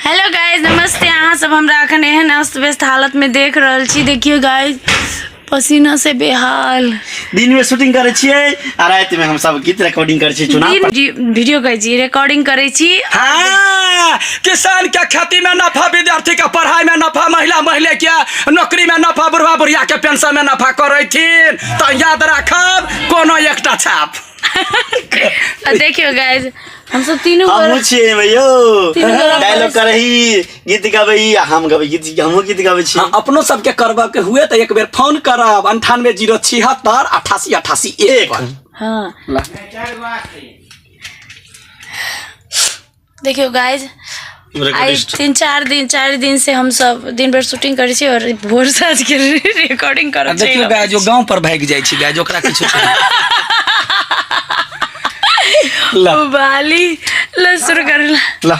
Hello guys नमस्ते अहाँ सब हमरा अखन एहन अस्त व्यस्त हालत में देख रहल छी देखियो गाइज पसीना से बेहाल दिन में शूटिंग करे छियै आ रात में हम सब गीत रिकॉर्डिंग करे छियै चुनाव पर। दिन वीडियो कहै छी रिकॉर्डिंग करै छी हाँ, किसान के खेती में नफा विद्यार्थी के पढ़ाई में नफा महिला महिला के नौकरी में नफा बुढ़वा बुढ़िया के पेंशन में नफा करे थीन तो याद रखब कोनो एकटा छाप आ देखियो गाइज हम सब तीनों हम गोरा छियै एहिमे यौ तीनू गोरा डायलॉग बारिश- करही गीत गाबै आ हम गाबै गीत हमहूँ गीत गाबै छी हम अपनो सबके करबऽ के हुए तऽ एक बेर फोन करब अंठानवे जीरो छिहत्तर अठासी अठासी एक एक पर। हाँ देखियो गाइज आइ तीन चारि दिन चारि दिन से हम सब दिन भर शूटिंग करै छी और भोर साँझ के रिकॉर्डिंग आ करब देखियो गाय जो गांव पर भागि जाइ छै गाय जो ओकरा किछु ला बाली ल शुरू करला ला